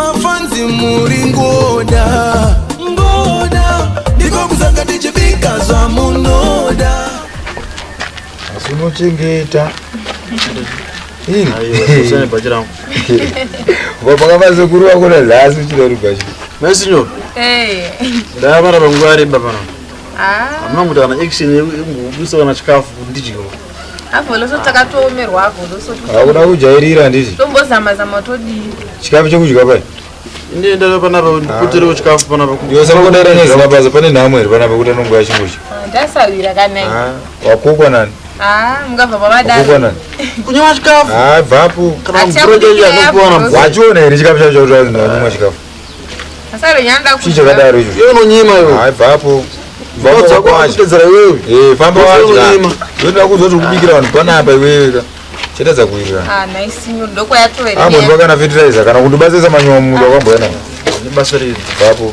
mafanzi muri ngoda ngoda ndiko kuzanga tichibika zvamunoda asi unochengeta vakavasekuru vakona zasi uchida rugashi mesinyo ndavara panguva yareba pana amuna kuti kana action yekubusa kana chikafu ndidyo hakuda kujairira handiti chikafu chekudya pai ndiendera panapa ndipoterewo chikafu panapa yosakodera nezina basa pane nhamo here panapa kuti anongoya chingozha wakukwa nani kunyewa chikafu bvapo wachiona here chikafu chacho kuti anonwa chikafu Chii chakadaro icho? Iwe unonyima iwe. Hai bvapo. Bvapo dzako achitedzera iwewe. Eh, famba wadya. Ndoda kuzoti ukubikira vanhu panapa iwewe ka. Chetedza kuira. Ah, nice nyu ndoko yatoera. Abo ndokana fertilizer kana kundibatsisa manyowa munhu wakamboya nawo. Ndibasirire. Bvapo.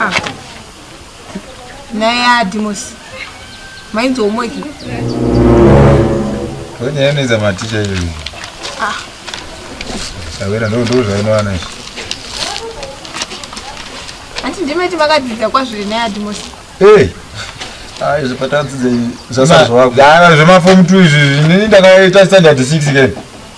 Ah. naye adimosi mainzi homoki tonyaya inoita maticha iyoyi ah. savera ndo ndo zvainowana izvi hanti ndimeti makadzidza kwazviri naye adimosi hey. ayi zvipatadzidze zvasazvako zvemafomu two izvi zvini ndakaita standard six kene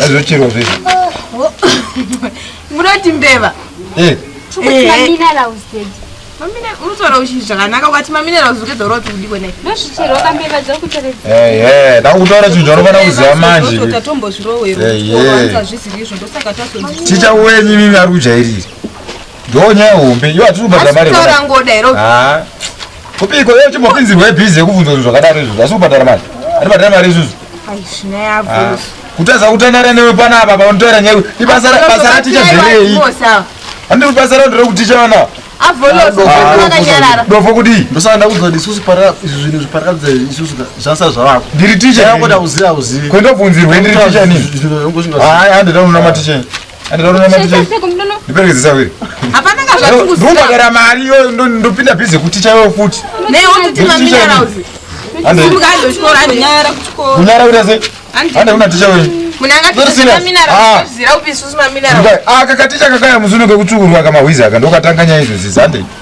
Azochiro zve. Munoti mbeva. Eh. Chikuti eh. mina la usted. Mamina unotora uchi zvakanaka ukati mamina la uzuke doro kuti ndiko nei. Ndozvichero kambeva dzoku teredza. Eh eh, da kutora zvinhu zvaunofana kuziva manje. Ndota tombo zvirowero. Eh eh. Ndozvizvi izvo ndosaka taso. Chicha wenyu mimi ari kujairira. Ndoo nyaya hombe. Iyo hatiri kubhadhara mari. Asi kutaura ngoda here? Ah. Kupiko iyo chimbopinzirwa ibhizi yekubvunza zvinhu zvakadaro izvozvo. Asi kubhadhara mari. Ari bhadhara mari izvozvo. Ai zvina yavo. Ah. Kutaza kutandara newe pana apa panotaura nyaya. Ibasa basa raticha zverei? Andiri basa rao ndiri kuticha vana. Dofo kudii? Ndosaka ndakuudza kuti isusu izvi zvinhu zviparakadza isusu zvasa zvavako. Ndiri ticha. Ndakuda kuziva kuziva. Kwenda kubvunzirwa ndiri ticha nini? Hayi handida kunama ticha. ndobhadhara mari iyoyo ndopinda bhizi kuti chaiwo futi kunyara kuita sei ande una ticha wewe akakaticha kakaya muzuno kekutsvukurwa kamahwizi aka ndokatanganya izvozizande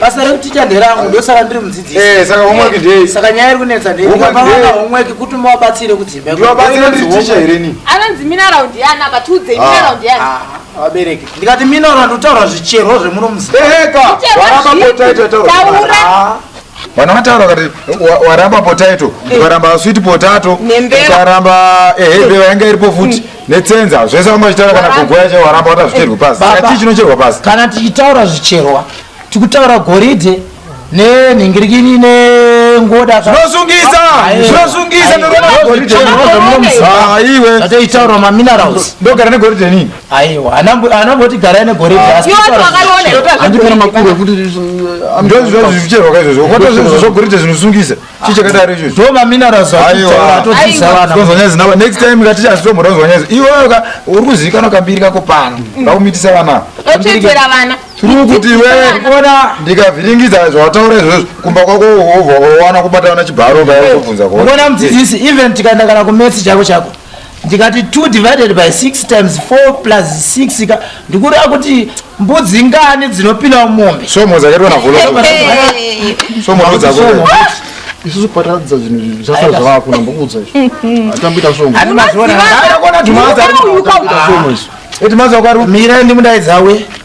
basa rekuticha nderangu ndosaka ndiri mudzidzisi eh, saka homework ndei saka nyaya iri kunetsa ndeiapaana homework kuti muvabatsire kudzimba ndivabatsire nditicha here ni anonzi minaraund yani apa tiudzei minaraund yani vabereki ndikati minaraund utaura zvicherwo zvemuno muzieka vana vataura kati waramba potaito eh. ukaramba sweet potato ukaramba ehe eh, eh. vayanga iripo futi netsenza zvese vanga vachitaura kana kugoya chaiwo waramba wata zvicherwe pasi saka chii chinocherwa pasi kana tichitaura zvicherwa tikutaura goridhe nenhingirikini nengoda zvinosungisa zvinosungisa aiwe zvataitaura maminerals ndogara negoridhe nini aiwa anamboti garai negoridhe asiandipena makuru ekuti ndozvozvicherwa kaizvozvo kwatozvozvogoridhe zvinosungisa chii chakadaro ichocho ndo maminarazi aitaura atodzisa vana tozonyaya zinaba next time kati chazitombora uzonyaya zi iwewe ka uri kuzivikanwa kambiri kako pano ngakumitisa vana otetera vana tiri kuti iwewe ona ndikavhiringidza zvawataura izvozvo kumba kwako wowana kubata vana chibharo kaobvunza kuona mudzidzisi even tikaenda kana kumesi chako chako ndikati 2 divided by 6 times 4 plus 6 ka ndikureva kuti mbudzi ngani dzinopinda mumombe somo dzakaitwa navolosomo isusu pataratidza zvinhu zvasa zvavakuna mbokuudza izvoatamboita somoaona timazi akari mira ndimudaidzawe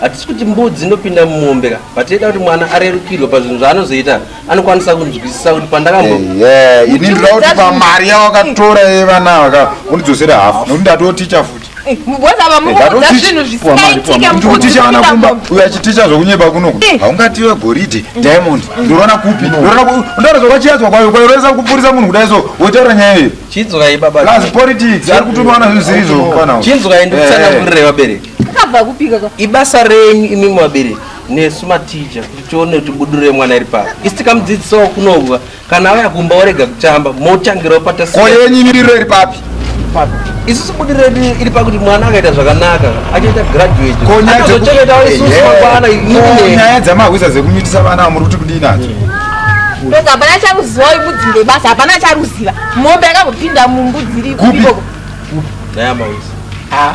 hatisi kuti mbudzi inopinda mumombe ka but ida kuti mwana arerukirwe pazvinhu zvaanozoita anokwanisa kunzwisisa kuti pandakamboini eh, eh, ndoda kuti pamari yawakatora yevana eh, vaka undidzosere hafu nokuti ndatoticha futi ndikuticha vana kumba uyo achiticha zvokunyeba kunoku haungative goridhe diamond ndorona kupi ndorona zvokachiadzwa kwayo kwayo roesa kupurisa munhu kudai so wotaura nyaya iyo chinzwai baba politics ari kutumiwana zvinhu zvirizvo chinzwai ndikusanamurire vabereki Akabva kupika ka. Ibasa renyu imi mwabereki nesu matija kuti tione kuti buduro yemwana iri pari. Isi tikamudzidzisawo kunobwa kana auya kumba orega kutamba motangirawo patasi. Ko yenyu miriro iri papi? Papi. Isusu buduro redu iri pakuti mwana akaita zvakanaka achaita graduate. Ko nyaya dzeku- Achazochengetawo isusu Eh, mangwana Ko imine. nyaya dzamarwisa dzekumitisa vana ava muri kuti kudii nadzo? Ndoga hapana charuziva uyu mbudzi ndebasa hapana charuziva. Mombe yakambopinda mumbudzi iri Kupi? ikoko. Nyaya mawisa. Ah,